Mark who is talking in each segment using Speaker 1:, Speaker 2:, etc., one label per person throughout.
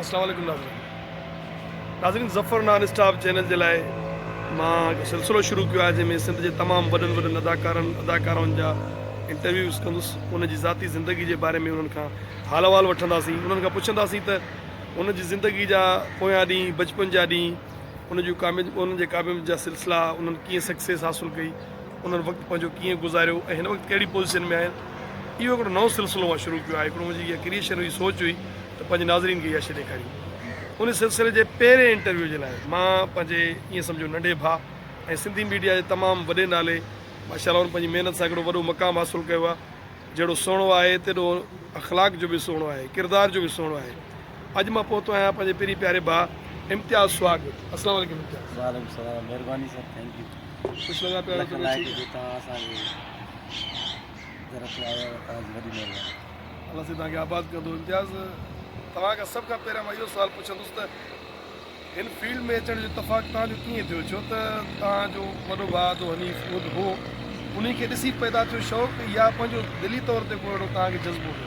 Speaker 1: السلام عليڪم ناظرين ناظرين ظفر نان اسٽاپ چينل جي لاء مان هڪ سلسلو شروع ڪيو آهي جنهن ۾ سنڌ جي تمام وڏن وڏن اداڪارن اداڪارائن جا انٽرويوز ڪندس ان جي ذاتي زندگي جي باري ۾ انهن کان حال احوال وٺنداسين انهن کان پڇنداسين ته ان جي زندگي جا پويان ڏينهن بچپن جا ڏينهن ان جون ڪامياب انهن جي ڪامياب جا سلسلا انهن ڪيئن سڪسيس حاصل ڪئي انهن وقت پنهنجو ڪيئن گذاريو ۽ هن وقت ڪهڙي پوزيشن ۾ آهن اهو هڪڙو نئون سلسلو مان شروع ڪيو آهي هڪڙو منهنجي اها ڪريئشن هئي سوچ هئي ته پنهنجي ناظرين کي اها شيء ڏيکاريون ان سلسلي جي پهرين انٽرويو جي لاء مان پنهنجي ائين سمجهو ننڍي ڀاء ۽ سنڌي ميڊيا جي تمام وڏي نالي ماشاء الله هن پنهنجي محنت سان هڪڙو وڏو مقام حاصل ڪيو آهي جهڙو سهڻو آهي تيڏو اخلاق جو به سهڻو آهي ڪردار جو به سهڻو آهي اڄ مان پهتو آهيان پنهنجي پرين پياري ڀاء امتياز سهاڳ وٽ السلام عليڪم امتياز وعليڪم السلام مهرباني
Speaker 2: sir thank you lakh like هجي
Speaker 1: توهان
Speaker 2: اسان جي گهر تي آيا آهيو توهان جي وڏي مهرباني. الله سائين توهان کي
Speaker 1: آباد ڪندو. امتياز توهان کان سڀ کان پهريان مان اهو سوال پڇندس ته هن فيلڊ ۾ اچڻ جو اتفاق توهان جو ڪيئن ٿيو ڇو ته توهان جو وڏو ڀاء عبدو حنيف خود هو انهي کي ڏسي پيدا ٿيو شوق يا پنهنجو دلي طور تي ڪو اهڙو توهان کي جذبو هو.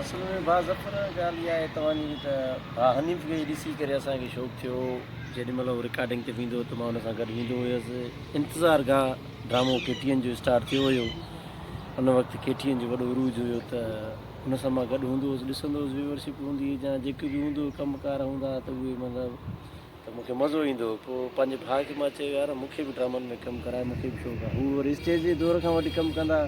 Speaker 1: اصل ۾ ڀاء
Speaker 2: ظفر ڳالهه اها آهي توهان جي ته ڀاء حنيف کي ڏسي ڪري اسان کي شوق ٿيو هو جيڏي مھل ھو رڪارڊنگ تي ويندو ھو ته مان ان سان گڏ ويندو ھيس. انتظار گاھ ڊرامو ڪي ٽي اين جو اسٽارٽ ٿيو ھيو. ان وقت ڪي ٽي اين جو وڏو عروج ھيو ته ان سان مان گڏ ھوندو ھوس ڏسندو ھوس ويورشپ ھوندي ھئي جا جيڪي به ھوندو ھو ڪم ڪار ھوندا ھا ته اھي مطلب ته مون کي مزو ايندو ھو پوء پنھنجي ڀاء کي مان چيو يار مون کي به ڊرامن ۾ ڪم ڪراء مون کي به شوق آ ھو وري اسٽيج جي دور کان وٺي ڪم ڪندا ھا.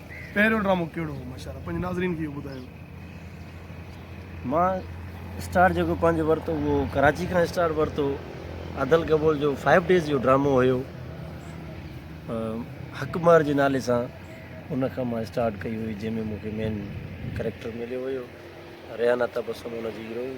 Speaker 1: پهريون ڊرامو ڪهڙو هو ماشاء الله پنهنجي ناظرين کي اهو ٻڌايو. مان
Speaker 2: اسٽارٽ جيڪو پنهنجو ورتو اهو ڪراچي کان اسٽارٽ ورتو ادل گبول جو فائيو ڊيز جو ڊرامو هيو حق مهر جي نالي سان ان کان مان اسٽارٽ ڪئي هئي جنهن ۾ مون کي مين ڪريڪٽر مليو هيو ريحانه تبسم ان جي هيروئن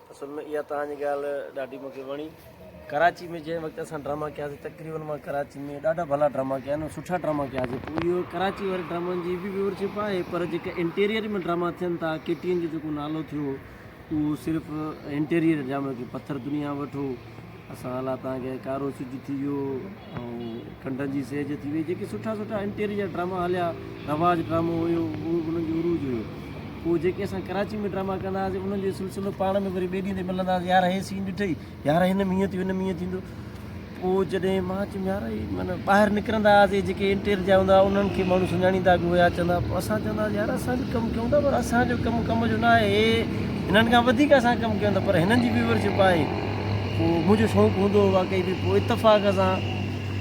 Speaker 1: اصل ۾ اها
Speaker 2: توهان جي ڳالهه ڏاڍي مون کي وڻي ڪراچي ۾ جنهن وقت اسان ڊراما ڪياسي تقريبن مان ڪراچي ۾ ڏاڍا ڀلا ڊراما ڪيا آهن سٺا ڊراما ڪياسي پوء اهو ڪراچي واري ڊرامن جي به ويور شپ آهي پر جيڪا انٽيريئر ۾ ڊراما ٿين ٿا ڪي ٽي اين جو جيڪو نالو ٿيو اهو صرف انٽيريئر ڊرامي ٿيو پٿر دنيا وٺو اسان الا تان گئي، ڪارو سج ٿي ويو ۽ ڪنڊن جي سيج ٿي وئي جيڪي سٺا سٺا انٽيري جا ڊراما هليا رواج ڊرامو هيو اهو به انهن جو عروج هيو پوء جيڪي اسان ڪراچي ۾ ڊراما ڪندا هئاسين انهن جو سلسلو پاڻ ۾ وري ٻئي ڏينهن تي ملندا هئاسين يار هي سين ڏٺئي يار هن ۾ هيئن ٿيو هن ۾ هيئن ٿيندو پوء جڏهن مان چيم يار هي من ٻاهر نڪرندا هئاسين جيڪي انٽير جا هوندا انهن کي ماڻهو سڃاڻيندا به هيا چوندا پوء اسان چوندا هئاسين يار اسان به ڪم ڪيون ٿا پر اسان جو ڪم ڪم جو نه آهي هي هنن کان وڌيڪ اسان ڪم ڪيون ٿا پر هنن جي ويورشپ آهي پوء منهنجو شوق هوندو هو واقعي به پوء اتفاق سان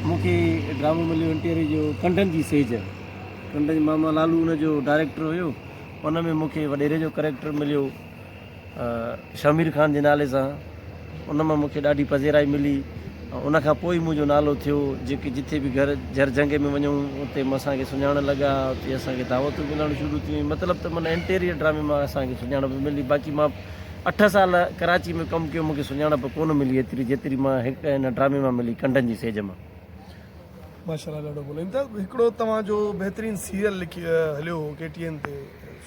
Speaker 2: مون کي ڊرامو مليو ان ٽي آر اي جو ڪنڊن جي سيج ڪنڊن جي ماما لالو ان جو ڊائريڪٽر هيو ان ۾ مون کي وڏيري جو ڪريڪٽر مليو شمير خان جي نالي سان ان مان مون کي ڏاڍي پذيرائي ملي ان کان پوء منهنجو نالو ٿيو جيڪي جتي به گهر جر جهنگ ۾ وڃون اتي اسانکي سڃاڻڻ لڳا اتي اسانکي دعوتون ملڻ شروع ٿيون مطلب ته معنيٰ انٽيريئر ڊرامي مان اسانکي سڃاڻپ ملي باقي مان اٺ سال ڪراچي ۾ ڪم ڪيو مون کي سڃاڻپ ڪونه ملي ايتري جيتري مان هڪ هن ڊرامي مان ملي ڪنڊن جي سيج مان. ماشاء
Speaker 1: الله ڏاڍو بولين ٿا هڪڙو توهان جو بهترين سيريل لکي هليو هو ڪي ٽي اين تي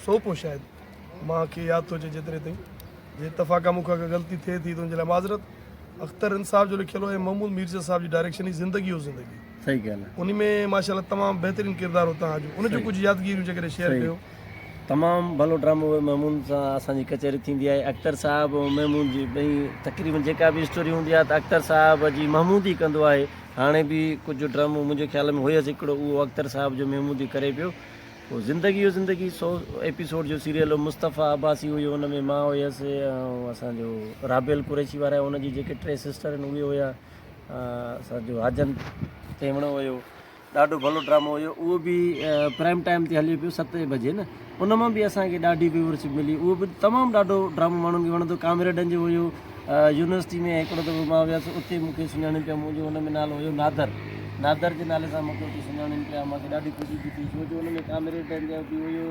Speaker 1: سوپ هو شايد مان کي ياد ٿو اچي جيتري تائين جي اتفاقا مون کان ڪا غلطي ٿئي ٿي ته ان جي لاء معذرت اختر انصاف جو لکيل هو ۽ محمود ميرزا صاحب جي ڊائريڪشن هي زندگي هو زندگي صحيح ڳالهه آهي ان
Speaker 2: ۾ ماشاء الله تمام
Speaker 1: بهترين ڪردار هو توهان جو ان جون ڪجهه يادگيريون جيڪڏهن شيئر ڪيو. تمام
Speaker 2: ڀلو ڊرامو هو محمود سان اسان جي ڪچهري ٿيندي آهي اختر صاحب ۽ محمود جي ٻئي تقريبن جيڪا به اسٽوري هوندي آهي ته اختر صاحب جي محمود ئي ڪندو آهي هاڻي به ڪجهه ڊرامو منهنجي خيال ۾ هيس هڪڙو اهو اختر صاحب جو محمود ئي ڪري پيو پوء زندگي هو زندگي سو ايپيسوڊ جو سيريل هو مصطفيٰ عباسي هيو ان ۾ مان هيس ۽ اسان جو رابيل قريشي وارا ان جي جيڪي ٽي سسٽر آهن اهي هيا اسان جو حاجن تيوڻو هيو ڏاڍو ڀلو ڊرامو هيو اهو به پرائم ٽائيم تي هليو پيو ستين بجي نه ان مان به اسان کي ڏاڍي ويورشپ ملي اهو به تمام ڏاڍو ڊرامو ماڻهن کي وڻندو ڪامريڊن جو هيو يونيورسٽي ۾ هڪڙو دفعو مان ويس اتي مون کي سڃاڻين پيا منهنجو ان ۾ نالو هيو نادر نادر جي نالي سان مون کي اتي سڃاڻين پيا مون کي ڏاڍي خوشي ٿي ٿي ڇو جو ان ۾ ڪامريڊن جو به هيو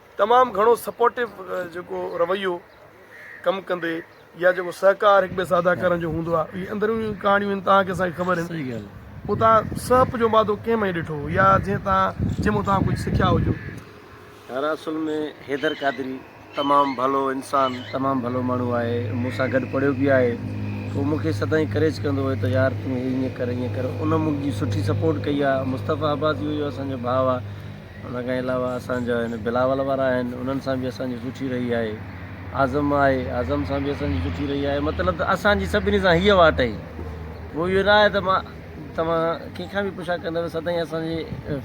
Speaker 1: تمام گهڻو سپورٽو جيڪو رويو ڪم ڪندي يا جيڪو سهڪار هڪ ٻئي سان ادا ڪرڻ جو هوندو آهي اهي اندرونيون ڪهاڻيون آهن تان کي اسان کي خبر آهن صحيح ڳالهه پوء تان
Speaker 2: سهپ جو
Speaker 1: مادو ڪنهن ۾ ڏٺو يا جنهن تان جنهن مون تان ڪجهه سکيا هجو يار
Speaker 2: اصل ۾ حيدر قادري تمام ڀلو انسان تمام ڀلو ماڻهو آهي مون سان گڏ پڙهيو به آهي هو مون کي سدائين ڪريج ڪندو هو ته يار تون هي ائين ڪر ائين ڪر ان مون جي سٺي سپورٽ ڪئي آهي مصطفيٰ عباسي هو جو اسان جو ڀاء آهي ان کان علاوه اسان جا هن بلاول وارا آهن انهن سان به اسان جي سٺي رهي آهي اعظم آهي اعظم سان به اسان جي سٺي رهي آهي مطلب ته اسان جي سڀني سان هيء واٽ اهي پوء اهو نه آهي ته مان توهان ڪنهن کان به پڇا ڪندو سدائين اسان جي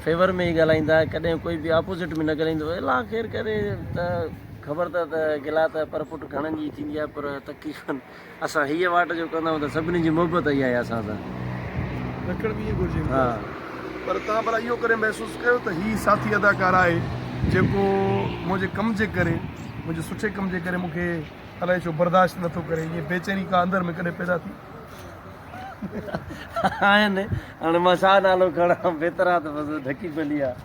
Speaker 2: فيور ۾ ئي ڳالهائيندا ڪڏهن ڪوئي به آپوزٽ ۾ نه ڳالهائيندو الا خير ڪري ته خبر ته ته گلا ته پر پٽ گهڻن جي ٿيندي آهي پر تڪي کن اسان هيء واٽ جو ڪندائون ته سڀني جي محبت اهي آهي اسان سان. لکڻ
Speaker 1: به ائين گهرجي ها. پر
Speaker 2: توهان ڀلا
Speaker 1: اهو ڪڏهن محسوس ڪيو ته هي ساٿي اداڪار آهي جيڪو منهنجي ڪم جي ڪري منهنجي سٺي ڪم جي ڪري مونکي الائي ڇو برداشت نٿو ڪري ائين بيچيني ڪا اندر ۾ ڪڏهن پيدا ٿي.
Speaker 2: آهن هاڻي مان ڇا نالو کڻان بيترا ته بس ڍڪي پلي آ.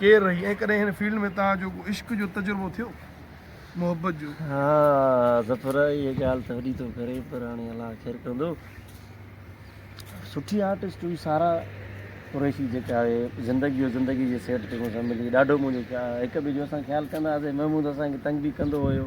Speaker 1: ڪير رهي ۽ ڪڏهن هن فيلڊ ۾ توهان جو ڪو عشق جو تجربو ٿيو محبت جو. ها
Speaker 2: ظفر اهي ڳالهه ته وڏي ٿو ڪري پر هاڻي الله خير ڪندو سٺي آرٽسٽ هئي سارا قريشي جيڪا آهي زندگي جو زندگي جي سيٽ تي مون سان ملي ڏاڍو مون جو هڪ ٻئي جو اسان خيال ڪندا هئاسين محمود اسان کي تنگ به ڪندو هيو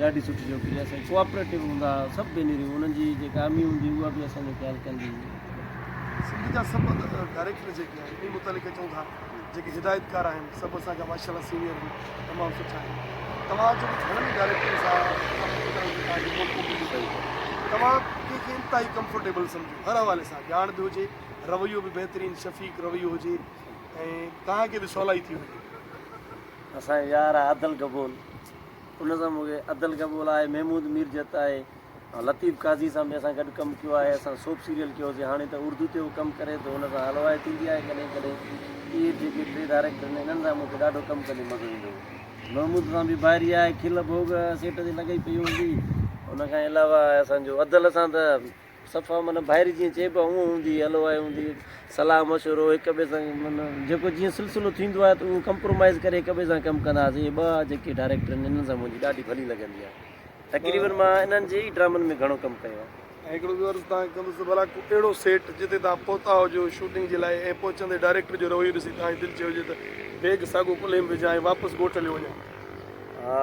Speaker 2: ڏاڍي سٺي ڇوڪري آهي سائين ڪوآپريٽو هوندا ها سڀ ڀينريون انهن جي جيڪا امي هوندي اها به اسان جو خيال ڪندي هئي سنڌ جا
Speaker 1: سڀ ڊائريڪٽر جيڪي آهن انهي متعلق چون ٿا جيڪي هدايتڪار آهن سڀ اسان جا ماشاء الله سينيئر آهن تمام سٺا آهن توهان جو گهڻن ئي ڊائريڪٽرن سان توهان ڪنهن کي انتهائي ڪمفرٽيبل سمجھو هر حوالي سان ڄاڻ به هجي رويو به بهترين شفيق رويو هجي ۽ توهان کي به سولائي ٿي وڃي اسان
Speaker 2: جو يار آهي عدل گبول ان سان مون کي عدل گبول آهي محمود ميرجت آهي ۽ لطيف قاضي سان به اسان گڏ ڪم ڪيو آهي اسان سوپ سيريل ڪيو سي هاڻي ته اردو تي هو ڪم ڪري ٿو ان سان هلوائي ٿيندي آهي ڪڏهن ڪڏهن اهي جيڪي ٽي ڊائريڪٽر آهن انهن سان مون کي ڏاڍو ڪم ڪندي مزو ايندو هو محمود سان به ڀائري آهي کل ڀوڳ سيٽ تي لڳئي پئي هوندي ان کان علاوه اسان جو عدل سان ته صفا معنيٰ ڀائري جيئن چئبو آهي اونء هوندي هئي، هلو آهي هوندي هئي، صلاح مشورو هڪ ٻئي سان معنيٰ جيڪو جيئن سلسلو ٿيندو آهي ته اونء ڪمپرومائيز ڪري هڪ ٻئي سان ڪم ڪندا هئاسين، اهي ٻه جيڪي ڊائريڪٽر آهن انهن سان منهنجي ڏاڍي ڀلي لڳندي آهي، تقريبن مان انهن جي ئي ڊرامن ۾ گهڻو ڪم ڪيو آهي. ۽ هڪڙو ٻيو عرض توهان
Speaker 1: کي ڪندس ته ڀلا ڪو اهڙو سيٽ جتي توهان پهتا هجو شوٽنگ جي لاء ۽ پهچندي ڊائريڪٽر جو رويو ڏسي توهان جي دل چيو هجي ته بيگ ساڳو ڪلهي ۾ وجهان ۽ واپس ڳوٺ هليو وڃان. ها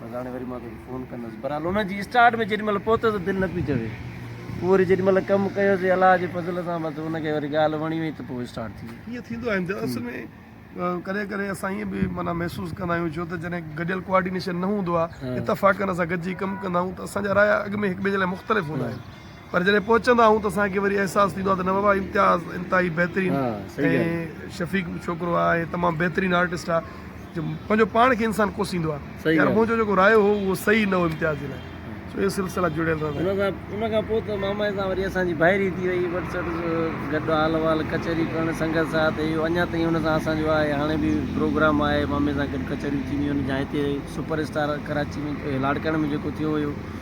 Speaker 2: بس هاڻي وري مان توکي فون ڪندس. برحال ان جي اسٽارٽ ۾ جيڏي مهل پهتو ته دل نه پئي چوي. پوء وري جيڏي مهل ڪم ڪيوسي الله جي فضل سان بس ان کي وري ڳالهه وڻي وئي ته پوء اسٽارٽ ٿي وئي. ائين ٿيندو آهي اصل ۾
Speaker 1: ڪڏهن ڪڏهن اسان ائين به معنيٰ محسوس ڪندا آهيون ڇو ته جڏهن گڏيل ڪوآرڊينيشن نه هوندو آهي اتفاقن اسان گڏجي ڪم ڪندا آهيون ته اسان جا رايا اڳ ۾ هڪ ٻئي جي لاء مختلف هوندا آهن. پر جڏهن پهچندا آهيون ته اسان کي وري احساس ٿيندو آهي ته نه بابا امتياز انتهائي بهترين ۽ شفيق ڇوڪرو آهي ۽ تمام بهترين آرٽسٽ آهي جو پنهنجو پاڻ کي انسان ڪوسيندو آهي يار منهنجو جيڪو رايو هو اهو صحيح نه هو امتياز جي لاء سو اهي سلسلا جڙيل رهندا ان کان پوء ته
Speaker 2: مامائي سان وري اسان جي ڀائري ٿي وئي وٽس گڏ حال احوال ڪچهري ڪرڻ سنگت ساٿ اهو اڃا تائين ان سان اسان جو آهي هاڻي به پروگرام آهي مامي سان گڏ ڪچهريون ٿينديون آهن جا هتي سپر اسٽار ڪراچي ۾ لاڙڪاڻي ۾ جيڪو ٿيو هيو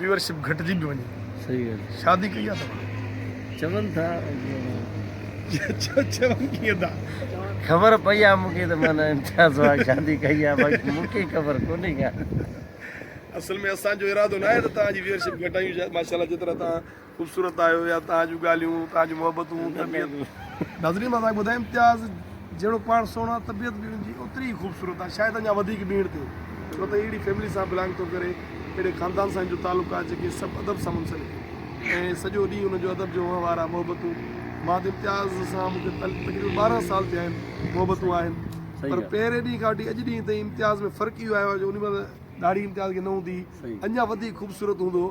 Speaker 1: ويورشپ گهٽجي به وڃي صحيح ڳالهه آهي شادي
Speaker 2: ڪئي آهي
Speaker 1: توهان چون
Speaker 2: ٿا
Speaker 1: چون ڪيئن ٿا خبر پئي
Speaker 2: آهي مون کي ته مان امتياز سواگ شادي ڪئي آهي باقي مون کي خبر ڪونهي ڪا اصل
Speaker 1: ۾ اسان جو ارادو ناهي ته توهان جي ويورشپ گهٽايون شايد ماشاءالله جيترا توهان خوبصورت آهيو يا توهان جون ڳالهيون توهان جون محبتون طبيعت ناظرين مان توهان کي ٻڌايان امتياز جهڙو پاڻ سهڻو آهي طبيعت به ان جي اوتري ئي خوبصورت آهي شايد اڃا وڌيڪ به هيڻ ٿئي ڇو ته اهڙي فيملي سان بلانگ ٿو ڪري اهڙي خاندان سان ان جو تعلق آهي جيڪي سڀ ادب سان منسلڪ آهن ۽ سڄو ڏينهن ان جو ادب جو وهنوار آهي محبتون مان ته امتياز سان مون کي تقريبن ٻارهن سال ٿيا آهن محبتون آهن پر پهرين ڏينهن کان وٺي اڄ ڏينهن تائين امتياز ۾ فرق اهو آيو آهي جو ان مهل ڏاڙهي امتياز کي نه هوندي هئي اڃا وڌيڪ خوبصورت هوندو هو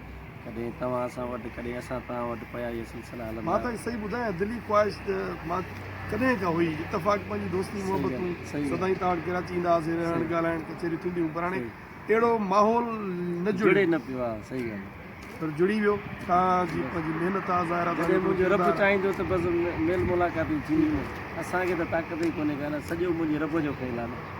Speaker 2: ڪڏهن توهان اسان وٽ ڪڏهن اسان توهان وٽ پيا اهي سلسلا هلندا. مان توکي صحيح ٻڌايان دلي
Speaker 1: خواهش ته مان ڪڏهن کان هئي اتفاق پنهنجي دوستي محبتون سدائين توهان وٽ ڪراچي ايندا هئاسين رهڻ ڳالهائڻ ڪچهريون ٿينديون هيون پر هاڻي اهڙو ماحول نه جڙي نه پيو ها
Speaker 2: صحيح ڳالهه آهي پر جڙي ويو
Speaker 1: توهان جي پنهنجي محنت آهي ظاهر آهي جڏهن منهنجو رب چاهيندو ته
Speaker 2: بس ميل ملاقاتون ٿينديون اسان کي ته طاقت ئي ڪونهي ڪا نه سڄو منهنجي رب جو کيل آهي نه.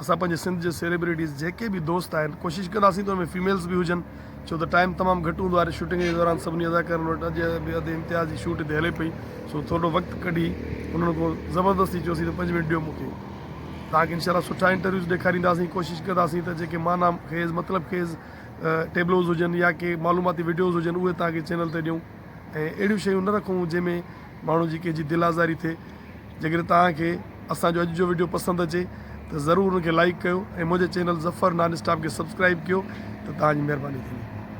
Speaker 1: اسان پنهنجي سنڌ جي سيليبريٽيز جيڪي به دوست آهن ڪوشش ڪنداسين ته ان ۾ فيميلز به هجن ڇو ته ٽائيم تمام گهٽ هوندو آهي شوٽنگ جي دوران سڀني اداڪارن وٽ اڄ به اڌ امتياز جي شوٽ هتي هلي پئي سو ٿورڙو وقت ڪڍي انهن کان زبردستي چيوسين ته پنج منٽ ڏيو مون کي توهان کي انشاء الله سٺا انٽرويوز ڏيکارينداسين ڪوشش ڪنداسين ته جيڪي معنيٰ خيز مطلب خيز ٽيبلوز هجن يا ڪي معلوماتي وڊيوز هجن اهي توهان کي چينل تي ڏيون ۽ اهڙيون شيون نه رکون جنهن ۾ ماڻهو جي ڪنهن جي دل آزاري ٿئي جيڪڏهن توهان کي اسان جو اڄ جو وڊيو پسند اچي ته ضرور ان کي لائيڪ ڪيو ۽ منهنجي چينل ظفر نان اسٽاپ کي سبسڪرائيب ڪيو ته توهان جي مهرباني ٿيندي.